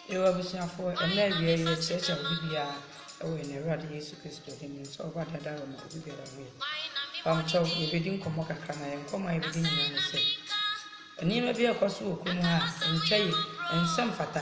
Yiw, abusuafo, ɛnnɛ awia yi yɛkyerɛkyerɛ a obi biara wɔ yɛn Awurade Yesu Kristo din mu sɛ ɔba dada hɔ ma obi biara hu yɛ. Mpabokyɛw, yɛbɛdi nkɔmmɔ kakra na yɛn nkɔmmɔ a yɛbɛdi nyinaa ne sɛ, nneɛma bi a ɛkɔ so wɔ kurom ha a ɛntwa yie, ɛnsɛ mfata,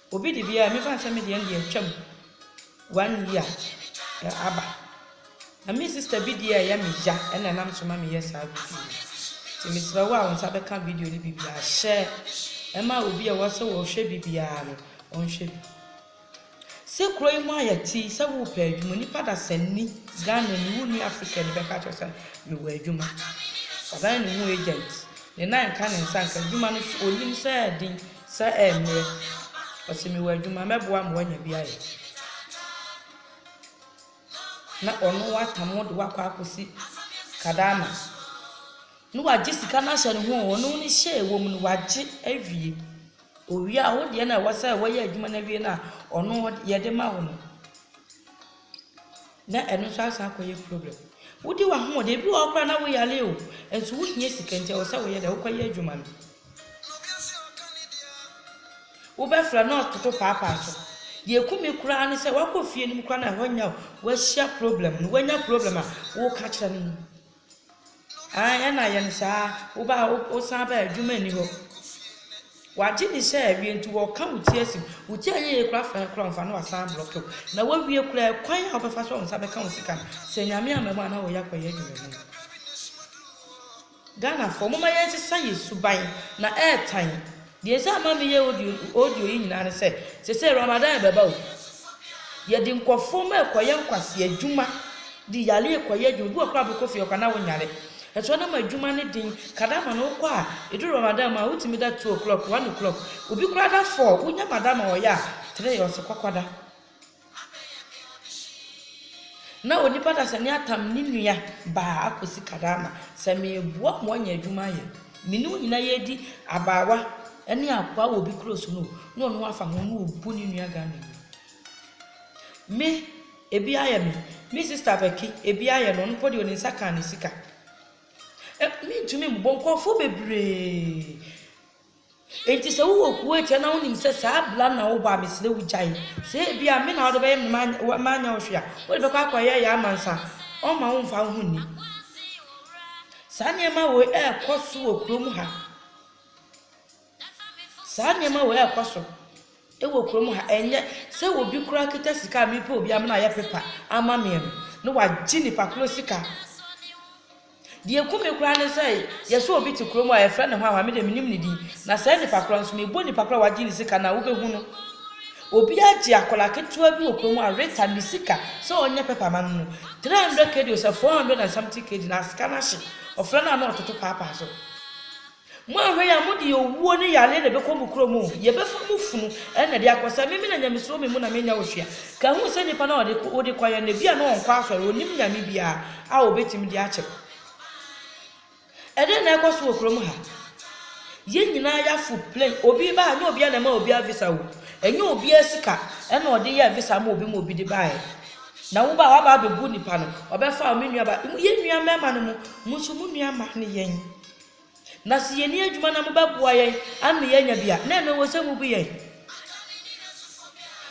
Obi de biaa me fan sɛ me deɛ deɛ atwam one year aba na me sister bi deɛ ɛyɛ me ya ɛna nam so ma me yɛ saa video no nti mesrɛ wo a wo nsa bɛka video no bibiaa hyɛ ɛma obi a wɔsɛ wɔhwɛ bibiaa no ɔnhwɛ bi sɛ kuro yi mu ayɛ ti sɛ wopɛ adwuma nipa da sɛ ni Ghana ni wo ni Africa ni bɛka kyerɛ sɛ mewɔ adwuma ɔdan ne ho agent ne nan ka ne nsa nka adwuma no so onim sɛ den Sɛ ɛmmerɛ. Ɔse mewɔ adwuma mɛboa ma wanya bi ayɛ. Na ɔno watam wo de wo akɔ akɔsi kadaama. Ne wagye sika no ahyɛ ne ho o, ɔno ne hyɛ ɛwɔ mu no wagye awie. Owie a wo deɛ no a ɛwɔ sɛ wɔyɛ adwuma no awie no a ɔno yɛde ma wo no. na ɛno nso asan akɔyɛ problem. Wodi w'ahoɔden, ebi wɔ hɔ koraa na woyare o, nso wohia sika nti ɛwɔ sɛ woyɛ dɛ, wokɔyɛ adwuma no. Wobɛfra na ɔtoto paapaa so. Deɛ ɛku me koraa ne sɛ woakɔ fie no mu koraa na ɛhɔ nyɛ a, woahyia problem no, woanya problem a, woka kyerɛ no. Aane, ɛna ayɛ no saa. Wobaa a, wosan baa a, adwuma nni hɔ. Wagye ne hyɛ awie nti wɔka wo ti asim. Wo ti anyɛ yie koraa fa yɛ koraa ɔmfa na wasan ablɔke wo. Na wawie koraa kwan a wobɛfa so a wo nsa bɛka wo sika no, sɛ Nyame amma mu a na wɔyɛ akɔyɛ adwuma bi no. Ghanafoɔ, momma yɛnsesa yɛn suban na ɛretan. Deɛ nti a ama meyɛ audio audio yi nyinaa ne sɛ, sesei Ramadan rebɛba o, yɛde nkurɔfoɔ ma ɛkɔyɛ nkwasi adwuma, de yare rekɔyɛ adwuma, bi wɔ hɔ koraa a wobɛkɔ fie ɔka na wonyare, ɛtoɔ no ma adwuma no den, kadama no wokɔ a, ɛduru Ramadan mu a wotumi da two o'clock, one o'clock, obi koraa da four, wonya madam a ɔyɛ a, three ɔse kɔkɔda. Na onipa dasani atam ne nua baa akosi Kadama sɛ mereboa mo anya adwuma ayɛ. Me ne wo nyinaa yɛredi abaawa ne akoa wɔ obi kuro so no o, na ɔno afa ho na ɔbu ne nua Ghana ni. Me, ebi ayɛ me. Me sista Bɛki, ebi ayɛ no, ɔno mpo deɛ ɔde ne nsa kaa ne sika. Ɛ, mentumi mmobɔ nkurɔfoɔ bebree. Enti sɛ wowɔ kuw atua na wunim sɛ saa bra no na wobɔ a, mesrɛ wo gyae. Sɛ ebia me na wode bɛyɛ me na manyɛ wo hwee a, wode bɛkɔ akɔyɛ yɛ amansan. Ɔmma wo mfa wo ho nni. Saa nneɛma wei rekɔ so wɔ kurom ha. Saa nneɛma wei rekɔ so wɔ kurom ha. Ɛnyɛ sɛ obi koraa kita sika a mepɛ obi amena ayɛ pepa ama me no na wagye nipa koro sika. Deɛ ɛku me koraa ne sɛ yɛsɛ obi te kurom a yɛfrɛ no Hwanhwa, me deɛ menim ne din, na saa nipa korɔ nso mebɔ nipa korɔ a wagye ne sika no a wobɛhu no. Obi agye akwadaa ketewa bi wɔ kurom a Rita ne sika sɛ ɔnyɛ pɛpa ma no no, 300 kd ɔsɛ 400 and something kd na asika no ahye, ɔfrɛ no a na ɔtoto paapaa so. Moanhwɛ yi a mo deɛ owuo ne yareɛ na ɛbɛkɔ mo kurom o, yɛbɛfa mo funu na ɛde akɔ, sɛ me me na nyamesuro me mu na menya otua, ka hu sɛ nipa no a wode kɔeɛ no ebia na ɔnkɔ asɔre, ɔnnim nyame biara a ɔbɛtumi de akyɛ wo. Ɛdɛn na ɛkɔ so wɔ kurom ha? Yɛn nyinaa yɛafo plane, obi reba ha, ɛnyɛ obiara na ɛma obiara visa o, ɛnyɛ obiara sika ɛna ɔde yɛɛ visa ama obi ma obi de baeɛ. Na woba a waba abɛbu nipa no, ɔbɛfa me nua ba, yɛn nua mmarima no mo, mo nso mo nua mmaa ne yɛn. Na sɛ yɛnni adwuma na mobɛboa yɛn ama yɛanya bi a, na ɛno ɛwɔ sɛ mubu yɛn.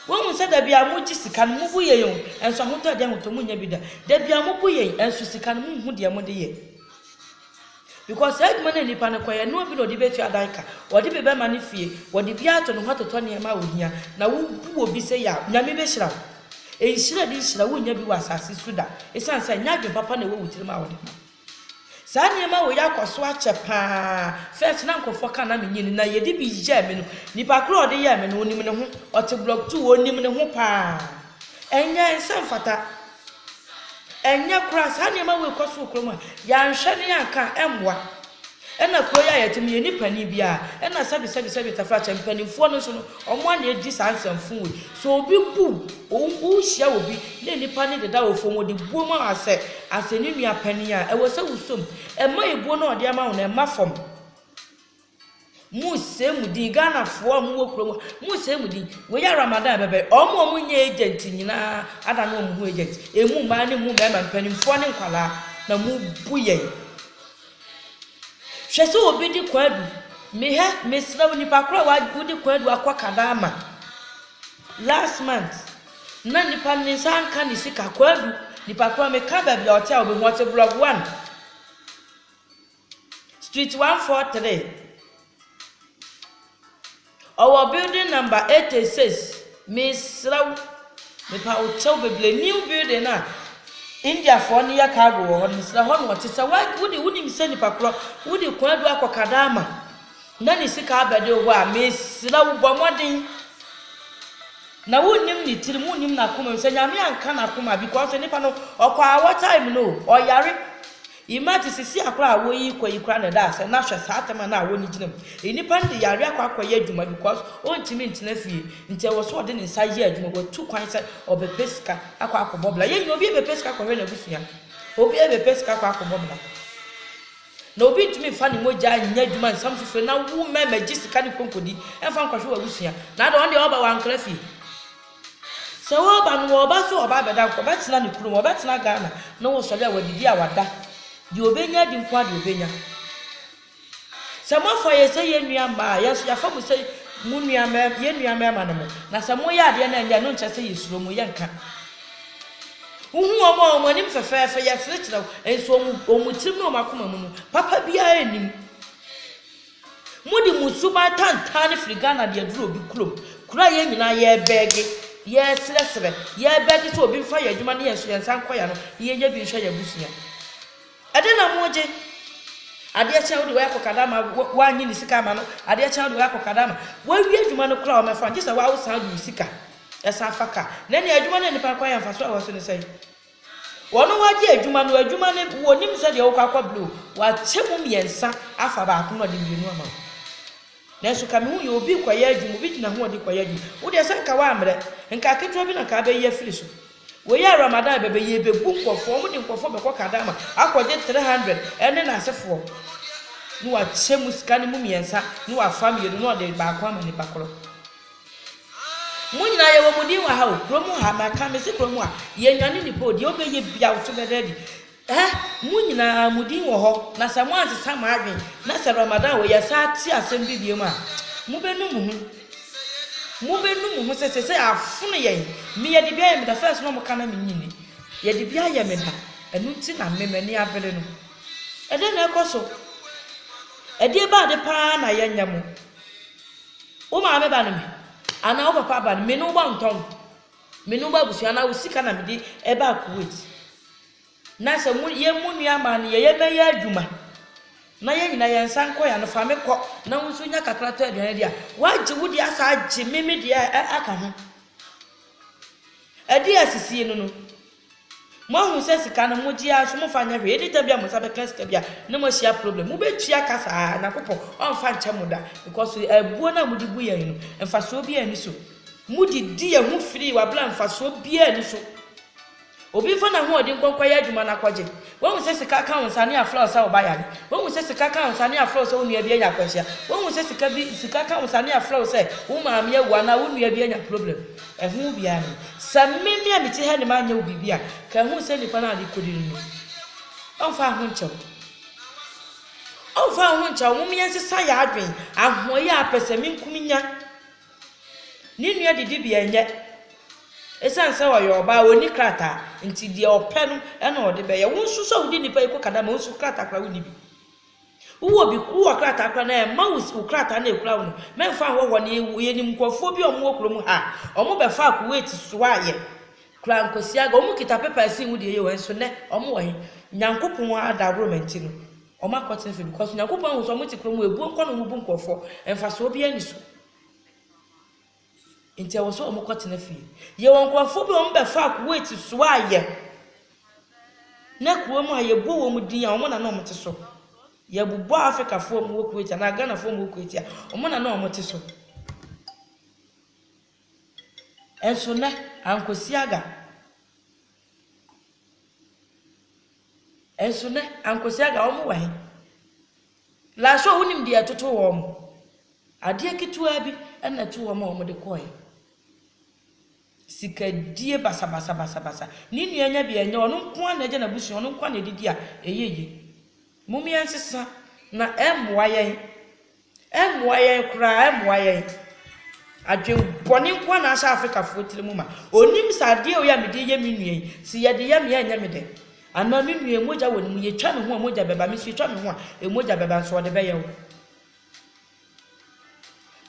Woahu sɛ da biara mogye sika no, mubu yɛn o, nso ahotɔ a ɛde ahotɔ monnya bi da. Da biara mobu yɛn, nso sika no monhu deɛ mode yɛ. Because saa adwuma no a nnipa no kɔyɛ no, obi na ɔde bɛtua dan ka, ɔde bi bɛma ne fie, wɔde bi ato ne ho atotɔ nneɛma a ɔhia, na wobu obi sɛ yaw. Nyame bɛhyira wo. Nhyira a ɛdi nhyira wonnya bi wɔ asase so da, ɛsiane sɛ ɛnyɛ adwene papa na ɛwɔ wo tirim a wode ma. Saa nneɛma wei akɔ so akyɛ paa. First na nkurɔfoɔ ka na menyɛ ni na yɛde bi yɛɛ me no. Nipa korɔ a ɔde yɛɛ me no ɔnim ne ho. Ɔte block two ɔnim ne ho paa. Ɛnyɛ ɛnsɛ mfata. Ɛnyɛ koraa saa nneɛma wei kɔ so wɔ kurom a yɛanhwɛ ne yɛanka a ɛmmoa. Ɛna kuro yi a yɛte mu yɛnni panin biara ɛna sɛbi sɛbi sɛbi tafrakyɛ mpaninfoɔ no nso no ɔmo ana edi saa nsɛmfoo wei sɛ obi bu wo wo hyia obi na nnipa no deda wo fam ɔde buo ma wo asɛ asɛ ne nua panin a ɛwɔ sɛ wo som ɛma ebuo no a ɔde ama wo no ɛmma fam mo sɛ mu din Ghana foɔ a mo wɔ kuro mu mo sɛ mu din wei yɛ Ramadan ɛbɛbɛ ɔmo ɔmo nyɛ agent nyinaa ada no ɔmo ho agent emu mmaa ne mu mmarima mpaninfoɔ ne nkwadaa na mo bu yɛn. Hwɛ sɛ obi de kwadu. Mehwɛ, mesrɛ wo, nnipa koro a wa, wode kwadu akɔ kadaama last month, na nnipa no ne nsa anka ne sika. Kwadu, nnipa koro a meka baabi a ɔte a wobɛhu, ɔte block one, street one four three. Ɔwɔ building number eighty six mesrɛ wo mepa wo kyɛw bebree new building no a India foɔ no yɛ cargo wɔ hɔ no mesrɛ hɔ na ɔte sɛ wode wonim sɛ nipa korɔ wode kwan adu akɔ kadaama na ne sika abɛde wo hɔ a mesrɛ wo bɔ mmɔden na wonnim ne tirim wonnim n'akoma mu sɛ nyame anka n'akoma because nipa no ɔkɔ awɔ time no ɔyare Imagine sisi akora a woyi kɔ yi kora na ɛda asɛ na hwɛ saa tɛma no a woni gyina mu enipa no de yare akɔ akɔ yɛ adwuma because ontumi ntena fie nti ɛwɔ so ɔde ne nsa yɛ adwuma watu kwan sɛ ɔbɛpɛ sika akɔ akɔ bɔ bla yɛn nyina obi ɛbɛpɛ sika akɔ hwɛ n'abusua obi ɛbɛpɛ sika akɔ akɔ bɔ bla na obi ntumi nfa ne mogya nyɛ adwuma nsam fufure na wo mɛmɛ gye sika ne konkodi ɛnfa nkɔhwɛ w'abusua na ada ɔn deɛ ɔba wankra fie Sɛ wɔba no wɔba sɛ wɔba abɛda nka wɔbɛtena ne kurom wɔbɛtena Ghana na wɔsɔre a wɔadidi a wɔada deɛ ɔbɛnya adi nko ara deɛ ɔbɛnya sɛ moafa yɛ sɛ yɛn nua mmaa yɛn nso yɛafa mo sɛ mo nua mmarima yɛn nua mmarima no mo na sɛ moyɛ adeɛ no ɛnyɛ no nkyɛ sɛ yɛsuro mo yɛnka wohu wɔn a wɔn anim fɛfɛɛfɛ yɛserekyerɛ wo nso wɔn wɔn tirim ne wɔn akoma mu no papa biara anim Mode mo suban tantaane firi Ghana de aduru obi kurom, kuro a yɛn nyinaa yɛrebɛge, yɛresrɛsrɛ, yɛrebɛge sɛ obi mfa yɛn adwuma ne yɛn so yɛn nsa nkɔ yɛn ano na yɛnyɛ bi nhwɛ yɛn abusua. Ɛdɛn na mogye? Adeɛ kye a wode wei akɔ Kadama, woannye ne sika ama no, adeɛ kye a wode wei akɔ Kadama. Wawie adwuma no koraa wɔmmɛfa no, gye sɛ wo ara wosan de wo sika san fa ka. Na ɛnneɛ adwuma no a nnipa no kɔ ayɛ mfasoɔ a ɛwɔ so ne sɛn? Wɔn wagye adwuma no adwuma no wɔnim sɛ deɛ wokɔ akɔ blow wakyɛ mu mmiɛnsa afa baako na ɔde mmienu ama wo nanso ka mehu yɛ obi kɔyɛ adwuma obi gyina ho ɔde kɔyɛ adwuma wo deɛ sɛ nka woammerɛ nka aketewa bi na nka abɛyi afiri so wɔyɛ a ramadan bɛbɛ yɛ bɛbu nkɔfoɔ wɔn de nkɔfoɔ bɛkɔ kadama akɔgye 300 ɛne n'asefoɔ na wakyɛ mu sika no mu mmiɛnsa na wafa mmienu na ɔde baako ama nipa korɔ Mo nyinaa yɛwɔ mo din wɔ ha o. Kuro mu ha, maka mese kuro mu ha, yɛnnwane nnipa o, deɛ wobɛyɛ bia wo so bɛda adi. Ɛ, mo nyinaa mo din wɔ hɔ, na sɛ moansesa mo adwen, na sɛ Ramadan wei yɛsan te asɛm bi biom a, mobɛnu mo ho. Mobɛnu mo ho sɛ sɛsɛ afono yɛn. Me yɛde bi ayɛ me da, first na wɔka na mennye nni. Yɛde bi ayɛ me da, ɛno nti na me m'ani abere no. Ɛdeɛn na ɛkɔ so? Ɛdeɛ bɛn ade paa na yɛnyɛ mo? Wo maame ba ne me, anaa wo papa ba ne me ne wo ba ntɔn. Me ne wo ba abusua anaa wo sika na mede ɛbaa Kuwait. Na sɛ mo yɛ mo nua maa no yɛ yɛ mɛyɛ adwuma na yɛn nyinaa yɛn nsa nkɔ yɛn ano fa me kɔ na wo nso nya kakra tɔ aduane de a wagye wo deɛ asa agye me me deɛ aka ho. Ɛdeɛ a asisie no no. Moahu sɛ sika no mogye ara nso momfa nyɛ hwee, anytime bi a mo nsa bɛka sika bi a na moahyia problem, mobɛtua ka saa, Nyankopɔn ɔmfa nkyɛ mo da, because abuo no a mode bu yɛn no mfasoɔ biara nni so, mode di yɛn ho firii wɔ abere a mfasoɔ biara nni so, obi mfa n'ahoɔden nkɔ nkɔyɛ adwuma na akɔgye. Woahu sɛ sika ka wo nsa ne afra wo sɛ wo ba yare? Woahu sɛ sika ka wo nsa ne afra wo sɛ wo nua bi anya akwanhyia? Woahu sɛ sika bi sika ka wo nsa ne afra wo sɛ wo maame awu anaa wo nua bi anya problem? Ɛho wo biara no. Sɛ me me a mete ha ne manyɛ wo biribi a, ka ɛho sɛ nnipa no a rekodi no no. Ɔmfa wo ho nkyɛ wo. Ɔmfa wo ho nkyɛ wo. Mom yɛnsesa yɛn adwene. Ahoɔyɛ a pɛ sɛ menku menya. Ne nua didibea nyɛ. Esiane sɛ ɔyɛ ɔbaa, onni krataa, nti deɛ ɔpɛ no na ɔde bɛyɛ. Wo nso so a wode nnipa yi kɔ Kadama, wo nso krataa koraa wonni bi. Wowɔ bi, wowɔ krataa koraa na ɛmma wo wo krataa na ekura wo no. Mɛmfa nhwɛ hɔ ne wo. Yɛnim nkurɔfoɔ bi a wɔwɔ kurom ha a, wɔbɛfaa Kuwait soaeɛ koraa nkwasiaga. Wɔkita pepa a ɛsen wo deɛ yie wɔ he nso nnɛ wɔwɔ he? Nyankopɔn adaworo ma nti no, Ɔmo akɔtena fie because Nyankopɔn ahu sɛ ɔmo te kuro mu ebuo nkɔ na ɔmo bu nkorɔfoɔ mfasoɔ biara ni so nti ɛwɔ sɛ ɔmo kɔtena fie yɛwɔ nkorɔfoɔ bi ɔmo bɛfaa Kuwait soa yɛ na kuro mu a yɛbɔ wɔn din a ɔmo na na ɔmo te so yɛbobɔ Afrikafoɔ mu wɔ Kuwait anaa Ghanafoɔ mu wɔ Kuwait a ɔmo na na ɔmo te so ɛnso nɛ ankɔsi aga Nso nnɛ, Ankosi-Aga, wɔn wɔ he? Lasho, wonim deɛ ɛtotoo wɔn? Adeɛ ketewaa bi na ɛtoo wɔn a wɔn de kɔɔɛ. Sikadie basabasa basabasa. Ne nua nya bi a ɛnyɛ ɔno nko ara na agya n'abusua, ɔno nko ara na ɛdidi a ɛyɛ yie. Mom yɛnsesa na ɛmmoa yɛn. Ɛmmoa yɛn koraa, ɛmmoa yɛn. Adwen bɔne nko ara na ahyɛ Afrikafoɔ tiri mu ma. Ɔnim sɛ adeɛ wei a mede reyɛ me nua yi, sɛ yɛde yɛ me a ɛnyɛ me dɛ. Anaa me nua yi mogya wɔ ne mu, yɛtwa me ho a mogya bɛba, me nso yɛtwa me ho a mogya bɛba, nso ɔde bɛyɛ wo.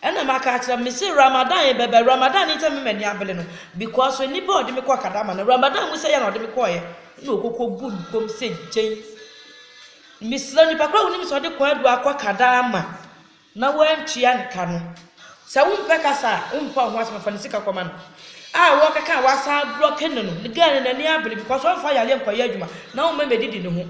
Ɛna maka akyerɛ me se Ramadan yi bɛba, Ramadan ne sɛ me m'ani abele no, because nnipa a ɔde me kɔ kadama no, Ramadan mu sɛ yɛ na ɔde me kɔɔyɛ, na ɔkɔkɔ bu nkɔm sɛ gyen. Mesrɛ nipa koro a wonim sɛ ɔde kwan du akɔ Canada ama na wantua ne ka no, sɛ wompɛ kasa a womfa wo ho asɛm fa ne sika kɔma no a wɔkeka a wasan ablɔke no no, ne girl no n'ani abere because ɔmfa yareɛ nkɔyɛ adwuma na woma medi di ne ho.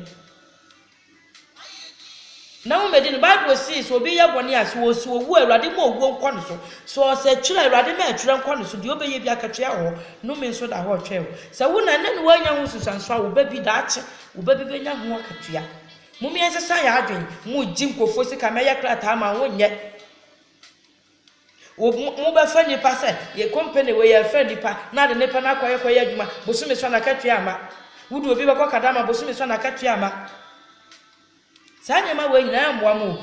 Na wo medi no Bible see sɛ obi yɛ bɔne a sɛ ɔsi owu a Awurade ma owuo nkɔ ne so. Sɛ ɔsɛ twerɛ Awurade ma ɛtwerɛ nkɔ ne so deɛ ɔbɛyɛ bi akatua wɔ hɔ, nome nso da hɔ retwɛn wo. Sɛ wo na ɛnɛ na woanya ho nsunsuansoɔ a wo ba bi daakye Wo ba bi bɛnya ho akatua. Mom yɛn sesa yɛn adwen mo gye nkofoɔ sika mɛ yɛ krataa ma wo nyɛ wo mo bɛ fɛ nipa sɛ yɛ company wɔ yɛ fɛ nipa na ade nipa na akɔ yɛ kɔ yɛ adwuma bosome sɔ na akatua ama wo de obi bɛkɔ kadama bosome sɔ na akatua ama saa nneɛma wɔ nyinaa mmoa mo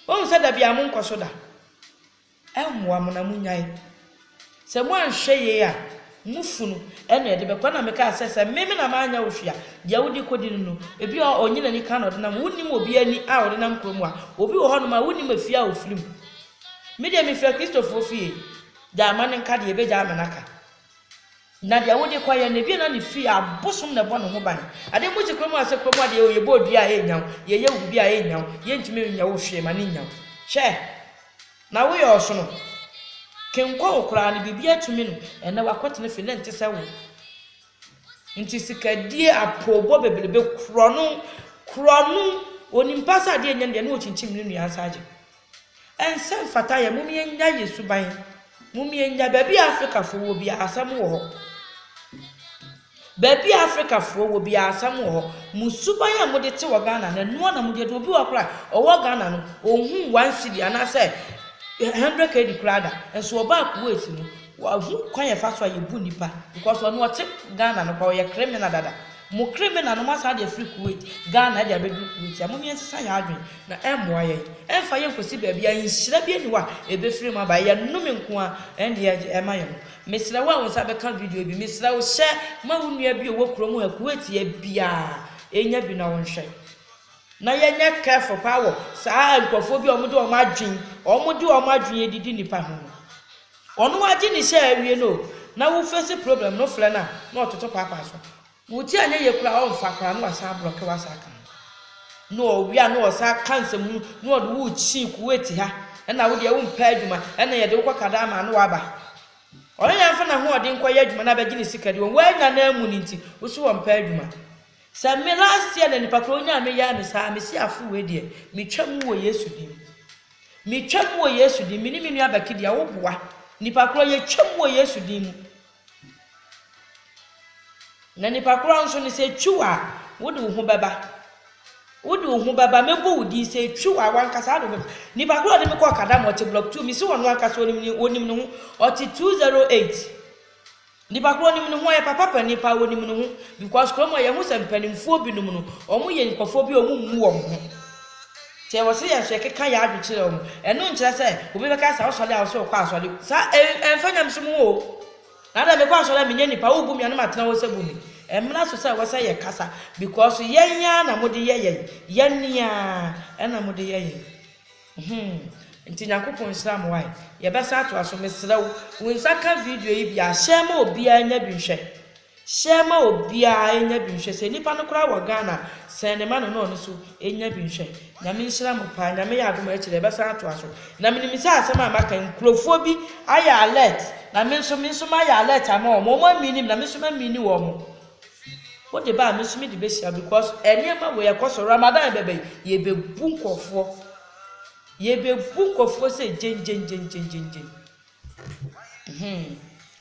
o wɔn sɛ da bia mo nkɔ so da Ɛnhoa mo na monyae. Sɛ moanhwɛ yei a, mo funu na ɛde bɛkɔ. Ɛna mekaa sɛ, sɛ me me na manyɛ wo hwee a, deɛ wode kɔdi no no, ebi wɔ hɔ a, ɔnnye n'ani ka na ɔde nam. Wonnim obi ani a ɔde nam kurom a. Obi wɔ hɔnom a, wonnim efie a ɔfirim. Me deɛ, mefiri Akristofoɔ fie. Gyae ma no nka deɛ ɛbɛgyae ama no aka. Na deɛ wode kɔ yɛ no ebi na ne fie abosom na ɛbɔ ne ho ban adeɛ mu si kurom a sɛ kurom adeɛ o yɛbɔ odua a ɛnnya wo yɛyɛ wo biribi a ɛnnya wo yɛntumi nyɛ wo hwee ma ne nnya wo hwɛ na woyɛ ɔsono kenkɔ wo koraa no biribi atumi no ɛnɛ wakɔtena fie na nte sɛ wo nti sikadie apoobɔ bebrebe korɔ no korɔ no onimpa sɛ adeɛ nnya no deɛ ne ɔkyinkyim ne nua nsa agye Ɛnsɛ mfata yɛ mom yɛnyae yɛ suban mom yɛnyae baabi a Africa foɔ wɔ biara asɛm wɔ hɔ baabi a Africa foɔ wɔ biara asɛm wɔ hɔ mo suban a mode te wɔ Ghana na ɛnoa na mode obi wɔ kora ɔwɔ Ghana no ɔnhu one city anaasɛ 100 kd koraa da nso ɔbaa Kuwait no wahu kwan yɛfa so a yɛbu nipa because ɔno ɔte Ghana no kora ɔyɛ krimina dada Mo kriminal no mo asan de afiri Kuwait, Ghana de abɛduru Kuwait ha. Monyɛ nsesa yɛn adwene na ɛmmoa yɛn. Ɛmfa yɛn nkɔsi baabi a nhyira bi nni hɔ a ɛbɛfiri mu aba. Ɛyɛ nnome nko ara ɛnneɛ ɛma yɛn. Mesrɛ wo a wo nsa bɛka video yi bi, mesrɛ wo hyɛ ma wo nua bi a ɔwɔ kurom ha, Kuwait ha biara nya bi na wɔnhwɛ. Na yɛnyɛ careful paa wɔ saa nkurɔfoɔ bi a wɔde wɔn adwene, wɔde wɔn adwene adidi nnipa ho no. Ɔno ara gye ne hyɛ awie no o na wo face problem no frɛ no a na ɔtoto paapaa so. Wo ti anyɛ yie koraa a ɔmfa koraa na wasan ablɔke wo asan aka ho. Na ɔwe a na ɔsan ka nsɛmhunu na ɔde wo rekyi Kuwait ha ɛna wo deɛ wompɛ adwuma ɛna yɛde wo kɔ Qatar ma na waba. Ɔno na mfa n'ahoɔden nkɔyɛ adwuma na abɛgye ne sika deɛ wannya no ammu no nti wo se ɔmpɛ adwuma. Sɛ me last year na nipa koraa ɔnyaa me yɛɛ me saa a mese afo wei deɛ metwa mu wɔ Yesu din mu. Me twa mu wɔ Yesu din. Me ne me nua Becky deɛ wo boa. Nipa korɔ yɛ twa mu wɔ Yesu din mu. Na nipa korɔ nso no sɛ etwi wo a, wo de wo ho bɛba. Wo de wo ho bɛba, mɛbɔ wo din sɛ etwi wo a, wankasa de wo bɛba. Nipa korɔ a ɔde me kɔɔ Kadama, ɔte block two, me se ɔno ankasa ɔnim ne, ɔnim ne ho, ɔte two zero eight. Nipa korɔ nim ne ho ɔyɛ papa pɛ nipa ɔnim ne ho because kurom ha yɛhu sɛ mpaninfoɔ bi nom no ɔmo yɛ nkorɔfoɔ bi a ɔmo mmu ɔmo ho nti ɛwɔ sɛ yɛnso yɛkeka yɛn adwen kyerɛ ɔmo ɛno nkyerɛ sɛ obi bɛka sɛ ɔsɔre a ɔsɛ ɔkɔ asɔre sa ɛnfa nyamesom ho o na dɛ mekɔ asɔre a menyɛ nipa wo bu me a na matena hɔ sɛ bu me ɛmmra so sɛ ɛwɔ sɛ yɛkasa because yɛn ara na mode yɛ yɛn yɛn ni ara ɛna mode yɛ yɛn. Humm nti Nyankopɔn nhyira mo wai yɛbɛsan atoa so mesrɛ wo wo nsa ka video yi biaa share ma obiaa nya bi nhwɛ share ma obiaa nya bi nhwɛ sɛ nipa no koraa wɔ Ghana sɛne ma no na ɔno so nya bi nhwɛ Nyame nhyira mo paa Nyame yɛ adom a akyire yɛbɛsan atoa so na menim sɛ asɛm a maka yi nkurofoɔ bi ayɛ alert na menso menso mayɛ alert ama wɔn wɔn amini me na menso mamini wɔn. Wode ba a me nso mede bɛhyira because nneɛma wei ɛkɔso Ramadan bɛba yi yɛbɛbu nkurɔfoɔ yɛbɛbu nkurɔfoɔ sɛ gyengyengyengyengyengyen hmm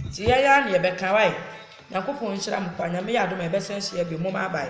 nti yɛn ara na yɛbɛka wae Nyankopɔn nhyira mo paa Nyame yɛ adom a yɛbɛsan hyia bio momma bye.